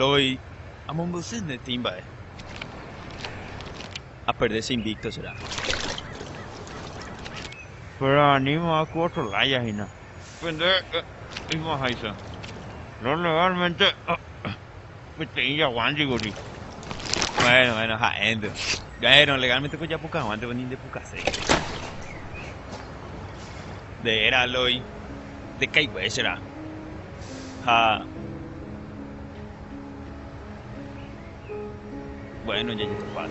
Loy amombyasy netĩ mba'e. Aperde che invicto será. Pero aníma ku otro laya hína. Pende oimo'ãháicha. Lo legalmente. Peteĩ jagua jeýkuri. Bueno, bueno, ha'énte. Bueno, legalmente ko japukavántepa ni ndepukase. Nde era Eloy, ndekaigue che ra'y. Ha bueno, jajetopa.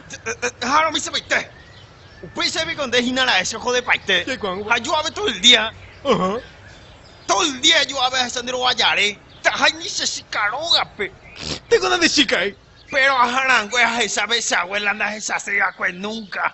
Jahá'arõ misepaite. Upéicha piko nde hína ra'e che ojodepaite. Ha jo'ave todo el día. Todo el día jo'ave ahecha nde rovajare. Tahái ni che chika rógape. Teko nande chika'éi. Péro aharangue ahecha pe che abuela ndahechasei va'ekue nunca.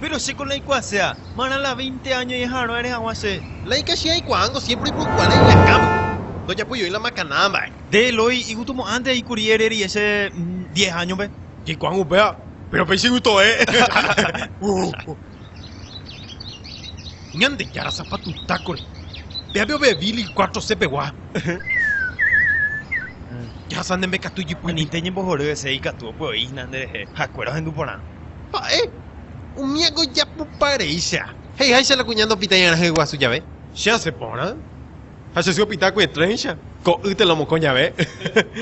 Péro chéko naikuaasea, marã la veinte áño ñaha'arõ'are hag̃ua che. La ikachi aikuaángo siémpre ipu'ukua la iñakãme, ndojapojoy la makana mba'e. Nde Eloi igustomo'ãnte aĩ kuri ere rieche diez áñope. Jaikuaángo upéva, péro péicha igustoe. Ñandejára sapatutákore, péape ove Billy cuatro C-pegua. Jahasa ne mbekatúi ipype. Anite ñembohory hese ikatu opy'oíhina nderehe ha'ekuéra ohendu porã. Ha'e, umíago ijapupa reícha. He'iháicha la kuña ndopitãiarã hyeguasu jave. Che asẽ porã, ha che sy opita kuetrẽicha, ko'ýte la omokõ jave.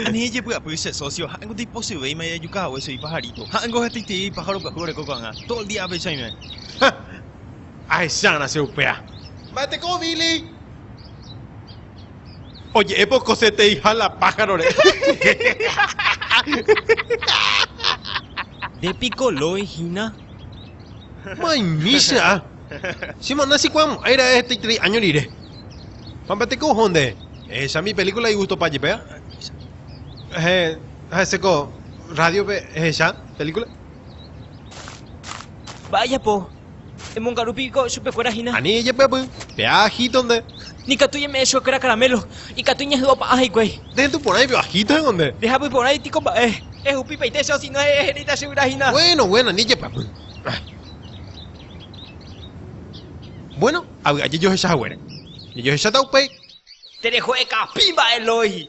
Ani ejepy'apy che sósio, ha'éngo ndaipochývéima ijajuka hague che ipajarito. Ha'éngo hetaiterei aipájaro pyahu oreko ko'ag̃a, todo el día apechaime. Ha ahechárã che upéa. Mba'eteko uvili. Oje'épe okoseteiha la pájarore. Nde piko lói hína? Maimi che a. Che ma'na che kuãmo'ãi ra'e hetaiterei áño rire. Pampa teko oho nde. Ehecha mi pelíkula igustopa jepe a. Ehe, ha'ese ko rádiope ehecha pelíkula. Mba'e ajapo? Emongaru piko chupekuéra hína. Ani ejepy'apy, pe ajito nde. Nikatu ñame'ẽ chuekuéra karamélo, ikatu iñehy'o pa'a hikuái. Nde entu porãi pe ajito heko nde. Nde japy porãi piko mba'e. Ehupípaite che osino he'i eheréita che yvyra hína. Buéno, buéno, ani ejepy'apy. Buéno, ha vy'a jejohecha haguére. Jejohecháta upéi. Tereho ekapi mba'e Lói.